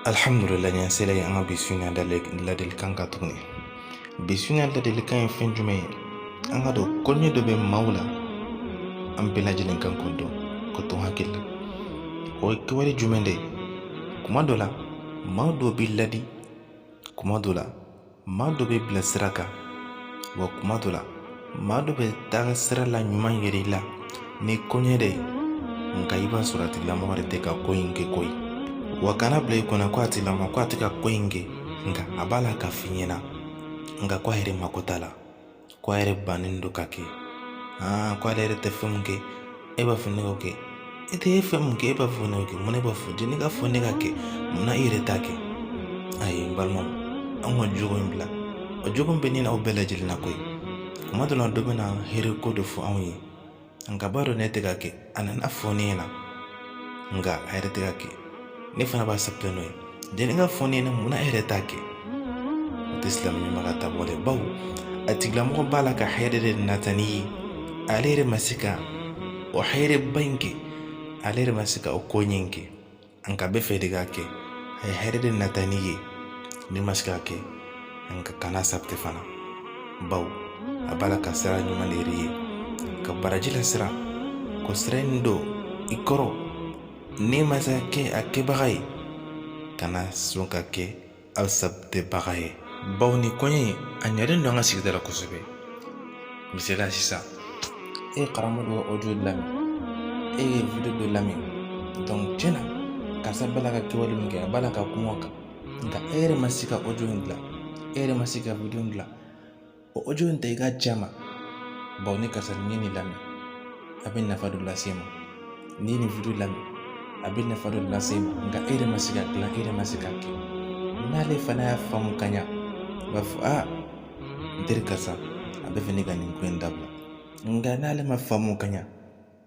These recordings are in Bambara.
alhamdulillah an sela ye an ka bi su in na ladilikan kan tuguni bi su in na ladilikan ye fɛn jumɛn ye an ka dɔn koɲɛ dɔ bɛ maaw la an bɛɛ lajɛlen kan k'o dɔn k'o to hakili la o ye kɛwale jumɛn de ye kuma dɔ la maa dɔ b'i ladi kuma dɔ la maa dɔ b'i bila sira kan wa kuma dɔ la maa dɔ bɛ taa sira la ɲuman yir'i la ni koɲɛ de ye nka i b'a sɔrɔ a tigilamɔgɔ de tɛ ka ko in kɛ koyi wa kana bila i kunna ko a tigilamɔgɔ ko a tɛ ka ko in kɛ nka a b'a la ka f'i ɲɛna nka ko a yɛrɛ mako t'a la ko a yɛrɛ bannen don ka kɛ aa ko ale yɛrɛ tɛ fɛn min kɛ e b'a fɔ ne k'o kɛ e tɛ fɛn min kɛ e b'a fɔ ne k'o kɛ munna e b'a fɔ jani ka fɔ ne ka kɛ munna i yɛrɛ t'a kɛ ayi n balimaw an ka jogo in bila o jogo in bɛ ne n'aw bɛɛ lajɛlen na koyi kuma dɔ la dɔ bɛ na hɛrɛ ko de fɔ anw ye nka b'a dɔn ne tɛ ka kɛ a nana fɔ ne ɲɛna nka a yɛrɛ tɛ ka kɛ ne fana b'a sabote n'o ye jani ka fɔ ne ɲɛna munna a yɛrɛ t'a kɛ o tɛ silamɛ ɲuman ka taabolo ye bawo a tigilamɔgɔ b'a la ka hɛrɛ de nata n'i ye ale yɛrɛ ma se ka o hɛrɛba in kɛ ale yɛrɛ ma se ka o koɲɛ in kɛ nka a bɛ fɛ e de k'a kɛ a ye hɛrɛ de nata n'i ye n'i ma se k'a kɛ nka kana sabote fana bawo a b'a la ka sira ɲuman de yir'i ye ka baraji la sira k'o sira in don i kɔrɔ n'i ma se ka kɛ a kɛbaga ye kana sɔn ka kɛ a sabotebaga ye bawo nin koɲɛ in a ɲɛlen don an ka sigida la kosɛbɛ misaliya sisan e ye karamɔgɔ dɔ ka ɔdiyo lamɛn e ye video dɔ lamɛn donc tiɲɛ na karisa b'a la ka kɛwale min kɛ a b'a la ka kuma o kan nka e yɛrɛ ma se ka ɔdiyo in dilan e yɛrɛ ma se ka video in dilan o ɔdiyo in ta i k'a ci a ma bawo ni karisa ni nin lamɛn a bɛ nafa dɔ lase ma ni nin video lamɛn a bɛ nafa dɔ lase ma nka e yɛrɛ ma se ka dilan e yɛrɛ ma se ka kɛ n'ale fana y'a faamu ka ɲa a b'a fɔ aa n teri karisa a bɛ fɛ ne ka nin ko in dabila nka n'ale ma faamu ka ɲa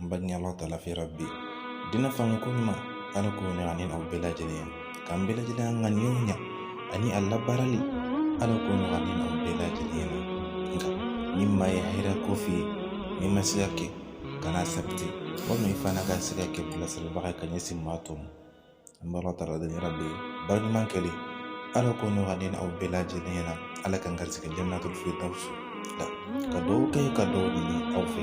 n b'a ɲini allahu taala fɛ rabi diinɛ faamu ko ɲuman ala k'o nɔgɔya ne n'aw bɛɛ lajɛlen ye k'an bɛɛ lajɛlen an ŋaniyaw ɲa ani a labaarali ala k'o nɔgɔya ne n'aw bɛɛ lajɛlen ye nka ni maa ye hɛrɛ ko f'i ye n'i ma se ka kɛ kana sabote walima i fana ka se ka kɛ bilasiralibaga ye ka ɲɛsin maa tɔw ma an bɛ allahu taala deli rabi ye baara ɲuman kɛlen ala k'o nɔgɔya ne n'aw bɛɛ lajɛlen ɲɛna ala k'an garisigɛ janatul firidawsi la ka dugawu kɛ ka dugawu ɲini aw fɛ